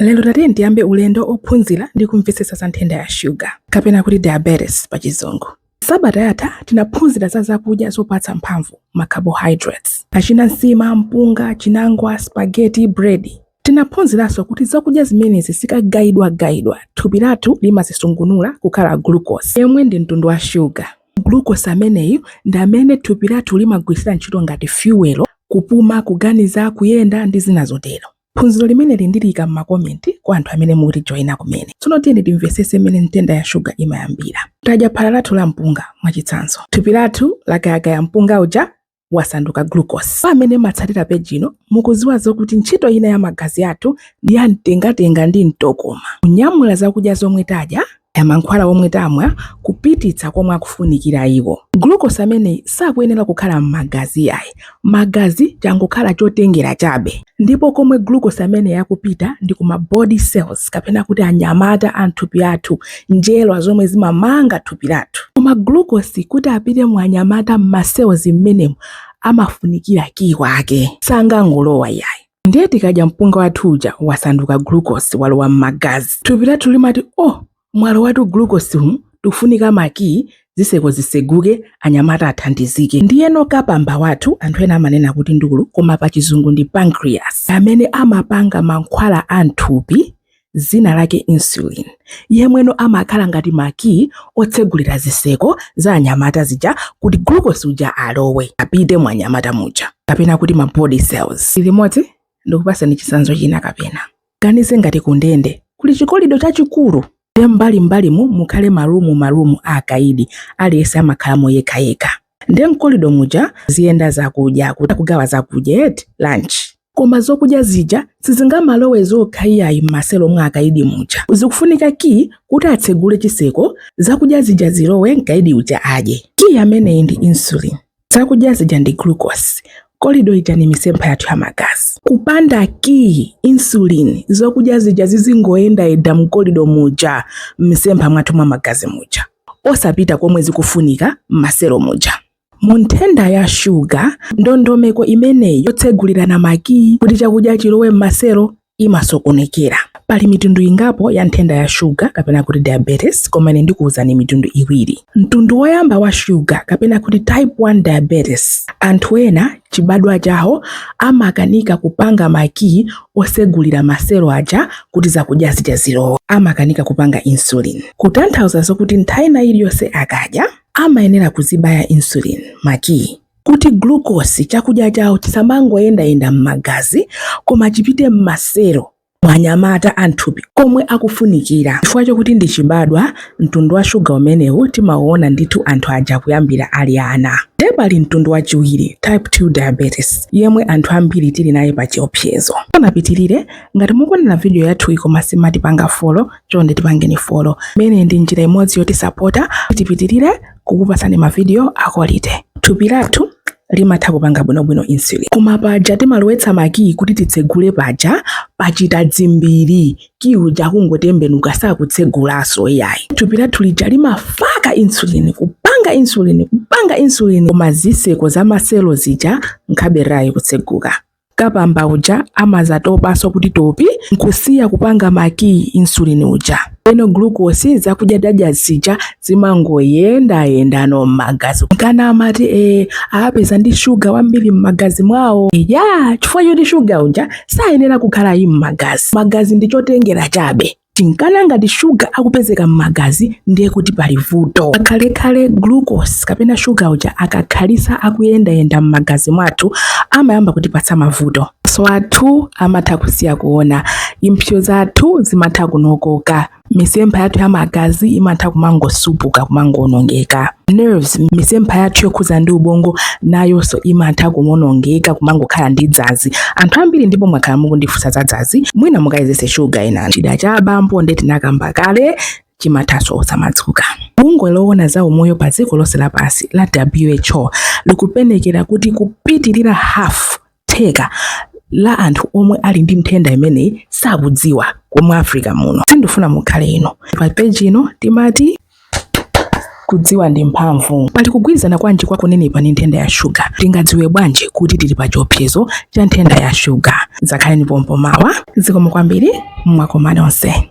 Lero tati tiyambe ulendo ophunzira ndi kumvetsetsa za nthenda ya shuga kapena kuti diabetes pa chizungu. Sabata yatha tinaphunzira za zakudya zopatsa mphamvu, ma carbohydrates, achina nsima, mpunga, chinangwa, spaghetti, bread. Tinaphunziranso kuti zakudya zimenezi zikagayidwagayidwa, thupi lathu limazisungunula kukhala glucose, yemwe ndi mtundu wa shuga. Glucose ameneyu ndi amene thupi lathu limagwiritsira ntchito ngati fuel, kupuma, kuganiza, kuyenda ndi zina zotero. Phunziro limeneli ndiliika m'makomenti kwa anthu amene mukutijoina kumene. Tsono tiyeni timvetsetse mmene nthenda ya shuga imayambira. Tadya phala lathu la mpunga, mwachitsanzo. Thupi lathu lagayagaya mpunga uja wasanduka glucose. Amene mmatsatira page ino, mukudziwa zokuti ntchito ina ya magazi athu ndi ya mtengatenga ndi mtokoma, kunyamula zakudya zomwe tadya kaya mankhwala omwe tamwa kupititsa komwe akufunikira iwo. Glucose ameneyi sakuyenera kukhala m'magazi yayi. Magazi changokhala chotengera chabe. Ndipo komwe glucose ameneyi akupita ndi kuma body cells kapena kuti anyamata a mthupi lathu, njerwa zomwe zimamanga thupi lathu. Koma glucose kuti apite mu anyamata m'ma cells m'menemu amafunikira kiyi wake. Sangangolowa yayi. ndiye tikadya mpunga wathu uja wasanduka glucose walowa m'magazi thupi lathu limati oh mwalowatu glucose tikufunika makiyi ziseko ziseguke anyamata athandizike ndiyeno kapamba wathu anthu ena amanena kuti ndulu koma pa chizungu ndi pancreas amene amapanga mankhwala a mthupi dzina lake insulin, yemweno amakhala ngati makiyi otsegulira zitseko za anyamata zija kuti glucose uja alowe apite mu anyamata muja kapena kuti ma body cells. Imani ndikupatseni chitsanzo china kapena ganize ngati kundende kuli chikolido chachikulu nde mbalimbalimu mukhale ma room ma room a akaidi aliyense amakhalamo yekhayekha. nde mkolido muja ziyenda zakudya kuti akugawa zakudya eti lunch koma zokudya zija sizingamalowe zokha iyayi m'maselo mwa akaidi muja zikufunika ki kuti atsegule chiseko zakudya zija zilowe mkaidi uja adye ki ameneyi ndi insulin zakudya zija ndi glucose kolido ija ni misempha yathu ya magazi kupanda ki insulin zokudya zija zizingoyenda yenda mkolido muja m'misempha mwathu mwa magazi muja osapita komwe zikufunika m'maselo muja. Mu nthenda ya shuga, ndondomeko imeneyi yotsegulirana makiyi kuti chakudya chilowe m'maselo imasokonekera. Pali mitundu ingapo ya nthenda ya shuga kapena kuti diabetes, koma ine ndikuwuzani mitundu iwiri. Mtundu woyamba wa shuga kapena kuti type 1 diabetes, anthu ena chibadwa chawo amakanika kupanga makiyi osegulira maselo aja kuti zakudya zija zilowe amakanika kupanga insulin kutanthauza zokuti nthawi ina iliyonse akadya amayenera kuzibaya insulin makiyi kuti glucose chakudya chawo chisamangoyendayenda m'magazi koma chipite m'maselo mwa nyamata a m'thupi komwe akufunikira. Chifukwa chokuti ndi chibadwa, mtundu wa shuga umenewu timaona ndithu anthu aja kuyambira ali ana. Ndiye pali mtundu wachiwiri, type 2 diabetes, yemwe anthu ambiri tili naye pa chiopsezo. Tisanapitirire, ngati mukuonera vidiyo yathuyi koma simatipanga follow, chonde tipangeni follow. Imene ndi njira imodzi yotisapota kuti tipitirire kukupatsani mavidiyo a quality. Thupi lathu limatha kupanga bwinobwino insulin koma paja timalowetsa makiyi kuti titsegule paja pachita dzimbiri kiyi uja akungotembenuka sakutsegulanso iyayi thupi lathu lija limafaka insulin kupanga insulin kupanga insulin koma ziseko za maselo zija nkhaberayi kutseguka kapamba uja amazatopaso kuti topi nkusiya kupanga makiyi insulin uja eno glucose zakudya dadya zija zimangoyendayendano m'magazi nkana amati ee awapeza ndi shuga wambiri m'magazi mwawo ya chifukwa choti shuga uja sayenera kukhala yi m'magazi magazi ndi chotengera chabe Nchinkana ngati shuga akupezeka m'magazi ndiye kuti pali vuto. Pakhalekhale glucose kapena shuga uja akakhalitsa akuyendayenda m'magazi mwathu amayamba kutipatsa mavuto. Maso athu amatha kusiya kuona, impsyo zathu zimatha kunokoka, misempha yathu ya magazi imatha kumangosupuka, kumangoonongeka. Nerves, misempha yathu yokhudza ndi ubongo, nayonso imatha kuwonongeka, kumangokhala ndi dzanzi. Anthu ambiri ndipo mwakhala mukundifunsa za dzanzi mwina mukayezese shuga ena chida cha abambo nde tinakamba kale chimathaso osamadzuka bungwe loona za umoyo pa dziko lonse lapansi la who likuyerekeza kuti kupitirira half theka la anthu omwe ali ndi nthenda imeneyi sakudziwa komwe africa muno sindifuna mukhale inu pa peji ino timati Kudziwa ndi mphamvu. Pali kugwirizana kwanji kwa kunenepa ndi nthenda ya shuga? Tingadziwe bwanji kuti tili pa chiopsezo cha nthenda ya shuga? Dzakhaleni pompo mawa. Zikomo kwambiri. Mwakoma nonse.